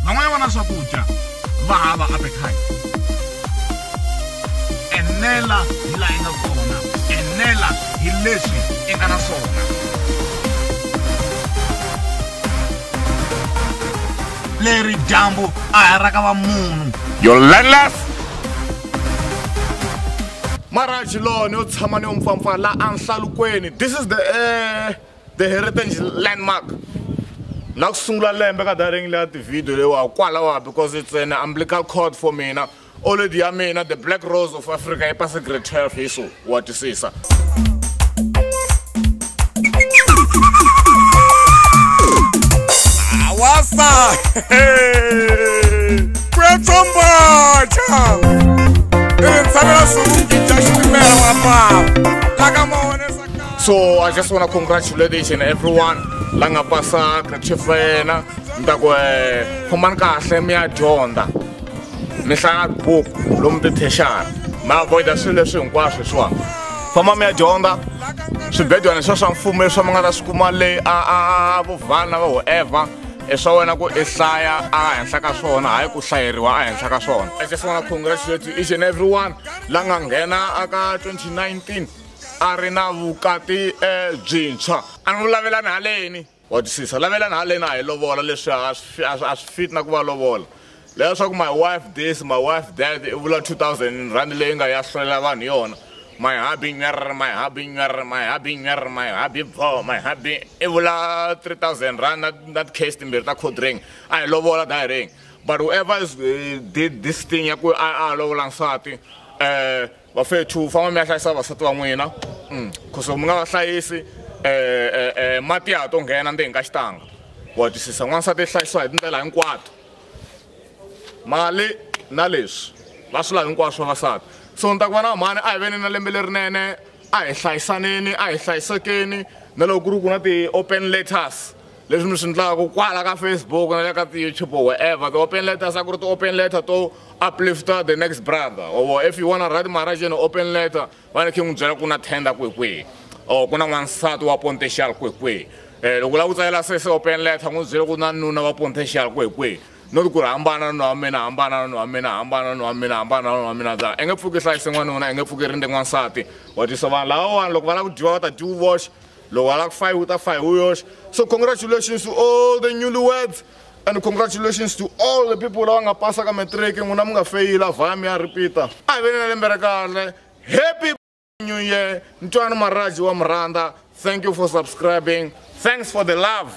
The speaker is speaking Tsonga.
van'wana va na swakudya va hava appetite enela hi laha i nga kona enela hi leswi i nga na swona leri dyambu a hi ra ka va munhu your landless maraj lowo ni yo tshama ni yo mpfampfa la enhlalukweni this is the uh, the heritage landmark la ku sungula lembe ka daring leya tivhidiyo leyiwa kwalawa because it's an umbilical cord for mina oledi ya mina the black rose of africa yi pase grade 12 hi so wa twisisa awasa kwetsombocha i ri tshamela swivungi bya xitimela wa papa la ka mawonesa ka so i just want to congratulate each and everyone la nga pasa grade twelve ya yena ni ta ku um khomani kahle mi ya dyondza mi hlaya buku lomu tithexana mi avoida swilo leswi hinkwaswo leswiwani famba mi ya dyondza swibedwana leswiwa swa mfumo leswi mi nga ta swi kuma leyi a vuvhana va whoever i swa wena ku i hlaya ehenhla ka swona hayi ku hlayeriwa ehenhla ka swona i just wanna congratulate each and everyone la nga nghena aka 2019 a ri na vukati eh, byintshwa a ni vulavelani haleni Wa twisisa lavela na lena hi lovola leswi a swi a swi a swi fit na ku va lovola leya swa ku my wife this my wife that i vula 2000 rand leyi nga ya hlolela vanhu yona my hubby nyer my hubby nyer my hubby nyer my hubby bho my hubby i vula 3000 rand na na case timbirhi ta code ring a hi lovola da ring but whoever is, uh, did this thing ya ku a a lovola nsati eh vafethu famba mi ya hlayisa vasati va n'wina mm. khoso mi nga va hlayisi um eh, um eh, eh, mati ya ha to nghena ndzeni ka xitanga wa twisisa n'wansati i hlayisiwa hi tindlela hinkwato mali na leswi va swi lavi hinkwaswo vavasati so ni ta ku va na mhani a hi veni na lembe lerinene a hi hlayisaneni a hi hlayisekeni na loko ku ri ku na ti-open letters leswi mi swi ndlaku kwala ka facebook na le ka ti-youtube or wherever ti-open letters a ku ri ti-open letter to uplifter the next brother or if you wanna write marajeni open letter va ni khe n'wi byela ku na tender kwekwihi or ku na n'wansati wa pontexal kwekwihi um loko u lava ku tsalela sese open letter n'wi byele ku na nuna wa pontexal kwekwihi no ti ku ri hambana nuna wa mina hambana nuna wa mina hambana nuna wa mina hambana nuna wa mina za i nge pfuki hlayise n'wanuna i nge pfuki rinde n'wansati wa twisa vanhu lava vanhu loko va lava ku dyiwa va ta dyi u voxe Lo wala ku fai uta fai uyos. So congratulations to all the newlyweds. And congratulations to all the people lava nga pasa ka matric n'wina mi nga feyila vhami ya repeater a hi veni na lembe ra kahle happy new year ntwana maraji wa murhandza thank you for subscribing thanks for the love